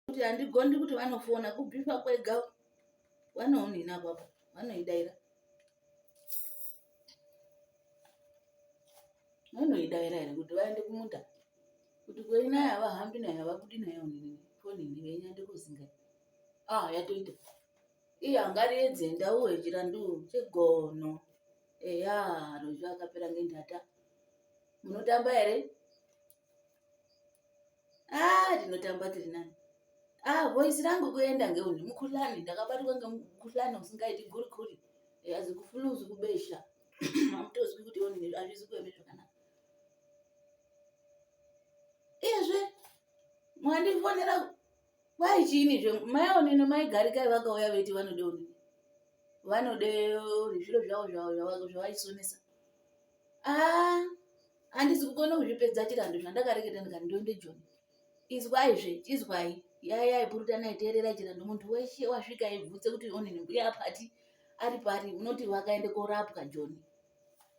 kuti handigondi kuti vanofona kubhifa kwega vanounhina kwako vanoidaira vanoidaira here kuti vaende kumunda kuti kweinaya havahambi nayo havabudi nayo foni ndivenyande kuzinga ah yatoita iye angariedze ndau hechira nduu chegono eya rozvi akapera ngendhata munotamba here ah ndinotamba tiri nani ah voice rangu kuenda ngeuni mukuhlani ndakabatwa ngemukuhlani usingaiti gurikuri yazi kufuluzi kubesha hamutozwi kuti one hazvizi kueme zvakanaka iyezve mwandifonera Kwai chiini zve mai onini mai garikai vakauya veiti vanode onini vanode zviro zvavo zvavo zvavaisonesa ah handisi kukona kuzvipedza chirandu zvandakareketa ndikati ndoende joni izwai zve izwai yayai purutanai teererai chirandu muntu weshe wasvika aibvutse kuti onini mbuya apati ari pari unoti vakaende korapwa joni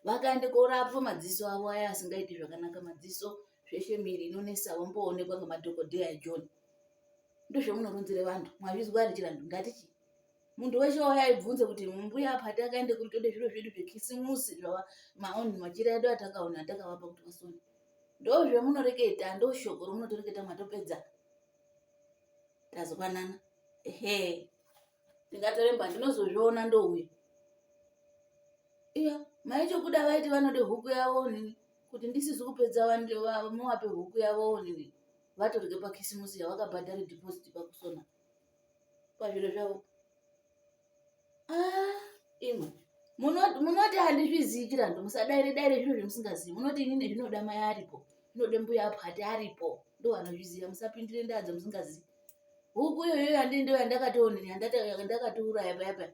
vakaende korapwa madziso avo aya asingaiti zvakanaka madziso zveshe miri inonesa wamboonekwa ngemadhokodheya John ndozvamunoronzere vantu mwazvizwa ere chirandu ndati chii muntu weshe wauya aibvunze kuti mbuya apa takaende kuri tode zviro zvedu zvekisimusi zvava maoni machira edu atakaona atakavapa kuti vasone ndozvamunoreketa ndoshoko romunotoreketa mwatopedza tazwanana ehe ndingatoremba ndinozozviona ndouya iya maichokuda vaiti vanode huku yavo nini kuti ndisizi kupedza vanhu vavo muvape huku yavowo nini vatorye pakisimusi yavakabhadhara deposit pakusona pazviro zvavo ah, imwe munoti handizvizii chirandu musadaire daire zvinhu zvemusingazivi munoti ini nezvinoda mai aripo zvinode mbuya apo hati aripo ndo vanozviziva musapindire ndaadza musingazivi huku iyoyo yandi ndo yandakatoonini yandakatouraya paya paya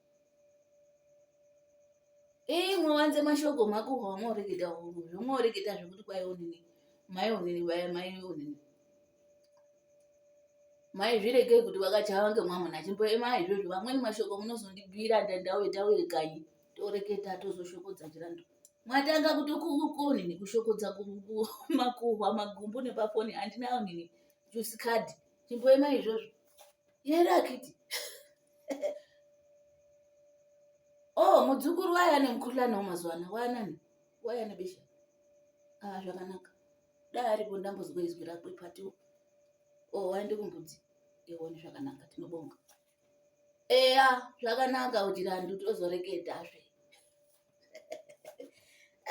Ii mwanze mashoko mako hwamoreketa huru zvomoreketa zvekuti kwai onini mai onini vaya mai onini mai zviregei kuti vakachawa ngemwamuna chimboema izvozvo vamweni mashoko munozondibvira ndandauye tauye kanyi toreketa tozoshokodza chirandu mwatanga kutokuonini kushokodza makuhwa magumbu nepafoni handina onini jusikadhi chimboema izvozvo yero akiti oh mudzukuru waye ane mukuhlani wamazuva ano waanani waye ane besha a ah, zvakanaka dai aripo ndambozwa izwi rako ipatiwo o oh, waende kumbudzi ione zvakanaka tinobonga eya zvakanaka kuti randu tozoreketazve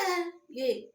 eh, yei